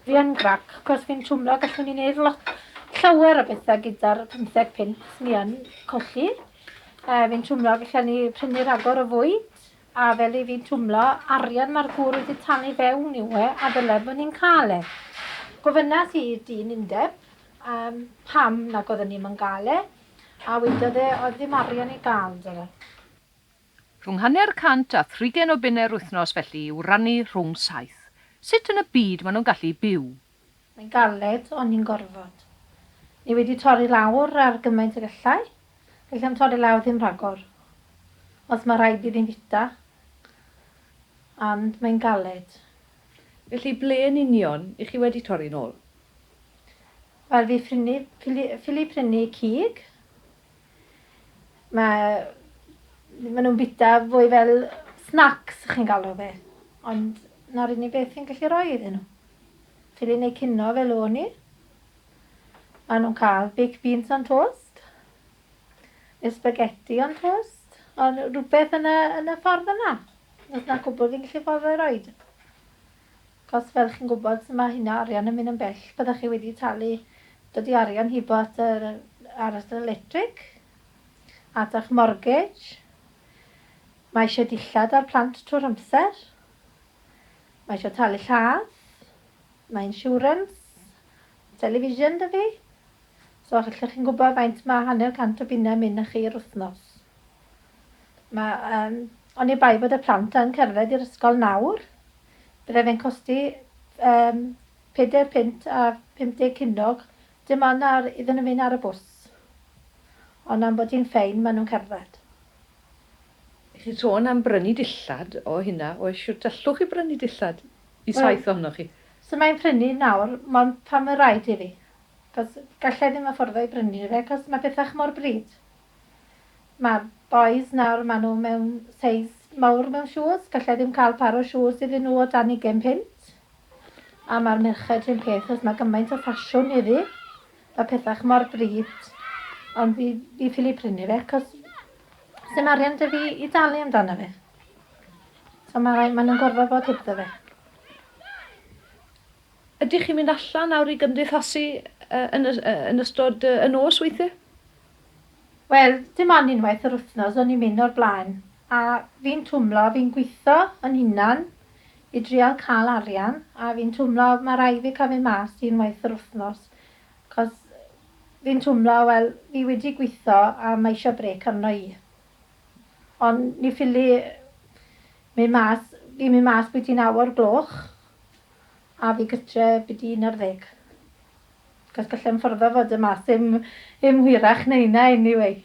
Fi yn grac, cos fi'n twmlo gallwn ni wneud lot llawer o bethau gyda'r 15 pint ni yn colli. E, fi'n twmlo gallen ni prynu rhagor o fwyd, a fel i fi'n twmlo, arian mae'r gŵr wedi talu fewn i we, a ddylai bod ni'n cael e. Gofynas i dyn undeb um, pam nag oedden ni'n yn gael e, a wedodd e oedd ddim arian i gael, dyle. Rhwng hanner cant a thrigen o bunnau yr wythnos felly i'w rannu rhwng saith. Sut yn y byd maen nhw'n gallu byw? Mae'n galed, ond ni'n gorfod. Ni wedi torri lawr ar gymaint ag allai. Gallai am torri lawr ddim rhagor. Os mae rhaid iddi'n fita. Ond mae'n galed. Felly ble yn union i chi wedi torri nôl? Wel fi ffili prynu cig. Mae... maen nhw'n bita fwy fel snacks, chi'n galw fe. Ond na'r unig beth fi'n gallu rhoi iddyn nhw. Ffilin eu cino fel o'n i. Maen nhw'n cael baked beans on toast. Neu spaghetti on toast. Ond rhywbeth yn y, yn y ffordd yna. Os na cwbl fi'n gallu ffordd o'i roed. Cos fel chi'n gwybod sut mae hynna, arian yn mynd yn bell, bydda chi wedi talu, dydi arian hibo at yr ar at yr electric, at ych mortgage, mae eisiau dillad ar plant trwy'r amser, mae eisiau talu lladd, mae insurance, mae television da fi, so allwch chi'n gwybod faint mae hanner cant o bunnau yn mynd â chi yr wythnos. Mae yym oni bai bod y plant yn cerdded i'r ysgol nawr, byddai fe'n costi yym pedair punt a phump deg cunnog, dim ond ar iddyn nhw fynd ar y bws. Ond am bod hi'n ffein, maen nhw'n cerdded. Ych chi'n sôn am brynu dillad o hynna, oes, shwt allwch chi brynu dillad i saith ohonoch chi? So mae'n prynu nawr, mond pan mae'n rhaid i fi, achos galla i ddim affordo i brynu fe, achos mae pethau mor bryd. Mae bois nawr mae nhw mewn seis mawr mewn shoes, gallai ddim cael par o shoes iddyn nhw o dan ugain punt. A mae'r merched rhywun peth os mae gymaint o ffasiwn heddi. Mae pethach mor bryd. Ond fi, fi ffili prynu fe cos sy'n arian dy fi i dalu amdano fe. So mae rhaid, maen nhw'n gorfod bod heb fe. Ydych chi'n mynd allan nawr i gymdeithasu yn, yn ystod y nos weithiau? Wel, dim ond unwaith yr wthnos o'n i'n mynd o'r blaen, a fi'n twmlo, fi'n gwitho yn hunan i drial ca'l arian, a fi'n twmlo ma' rai' fi ca'l mynd mas un waith yr wthnos, 'c'os fi'n twmlo, wel, fi wedi gwitho a ma' isio brêc arno i. Ond ni ffili mynd mas, fi'n mynd mas byti naw o'r gloch, a fi gytre byti un ar ddeg. Cos gallai fy ffordd o fod yn mas ddim ddim hwyrach na hynna anyway.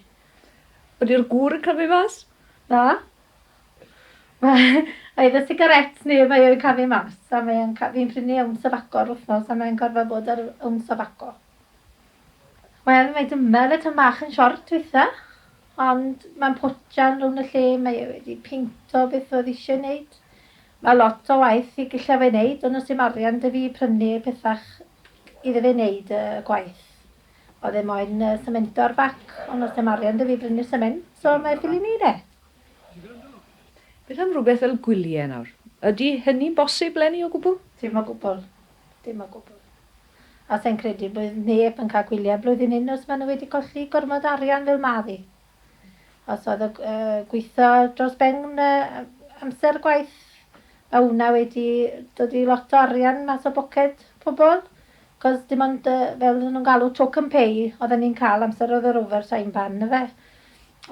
Ydi'r gŵr yn camu mas? Na. Oedd y sigaréts neu mae o'n camu mas a mae o'n ca- fi'n prynu owns of aco yr wythnos a mae'n gorfod bod ar owns of aco. Wel mae dymel y tŷ bach yn siort weitha ond mae'n potsian rownd y lle mae e wedi peinto beth oedd eisiau wneud. Mae lot o waith i gallai fe wneud ond os dim arian 'da fi i prynu pethach iddo fe wneud y gwaith. Oedd e moyn yy semento'r bac ond does dim arian 'da fi i brynu'r sement so mae ffili wneud e. Beth am rywbeth fel gwylie nawr? Ydy hynny'n bosib 'leni o gwbl? Dim o gwbl. Dim o gwbl. A sa i'n credu bydd neb yn cael gwylie blwyddyn hyn os maen nhw wedi colli gormod o arian fel ma' fi. Os oedd y gweithio dros ben amser gwaith, mae hwnna wedi dod i lot o arian mas o boced pobl. Cos dim ond uh, fel oedden nhw'n galw token pay oedden ni'n cael amser oedd yr over time ban na fe.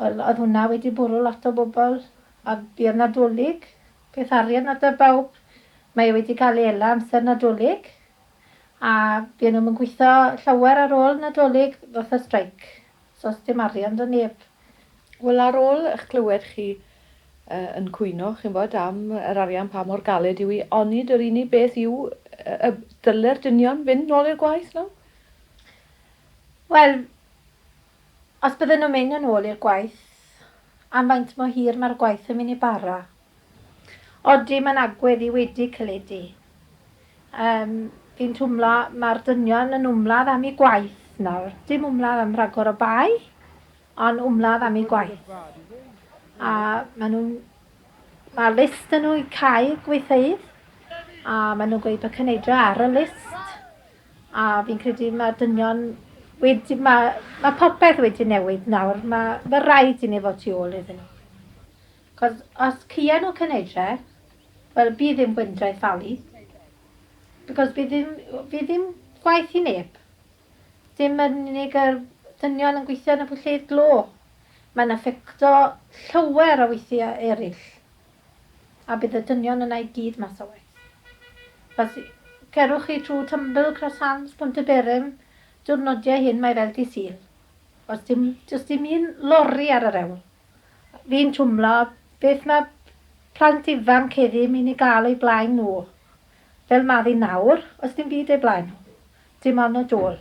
Wel, oedd hwnna wedi bwrw lot o bobl. A buodd nadolig, peth arian na dy bawb. Mae e wedi cael ei ela amser nadolig. A buon nhw'n gweithio llawer ar ôl nadolig, fatha straic. Does dim arian 'da neb. Wel ar ôl ych clywed chi yn cwyno chi'n bod am yr arian pa mor galed yw i onid yr unig beth yw y dyle'r dynion fynd nôl i'r gwaith nawr? Wel os bydden nhw'n mynd yn ôl i'r gwaith am faint mor hir mae'r gwaith yn mynd i bara? Odi mae'n agwedd i wedi celedu. Yym fi'n twmlo mae'r dynion yn wmladd am i gwaith nawr. Dim wmladd am rhagor o bai, ond wmladd am i gwaith. A maen nhw'n... Mae list yn nhw i cau gweithfeydd a maen nhw'n gweud bod Cyneidra ar y list a fi'n credu mae dynion wedi... Mae, mae popeth wedi newid nawr. Mae, mae rhaid i ni fod tu ôl iddyn nhw. Cos os cien nhw cynedre, wel bydd ddim gwyndre ffalu. Because bydd ddim, bydd ddim gwaith i neb. Dim yn unig yr dynion yn gweithio yn y pwllheuid glo. Mae'n affecto llawer o weithiau eraill. A bydd y dynion yna i gyd mas o waith. Os cerwch chi trwy Tumble, Cross Hands, Pont y Berym, diwrnodiau hyn mae fel di Sul. Os dim, just dim un lori ar yr ewl. Fi'n twmlo beth mae plant ifanc heddi myn i gael o'u blaen nhw. Fel ma fi nawr, oes dim byd o'u blaen nhw. Dim ond y dwl.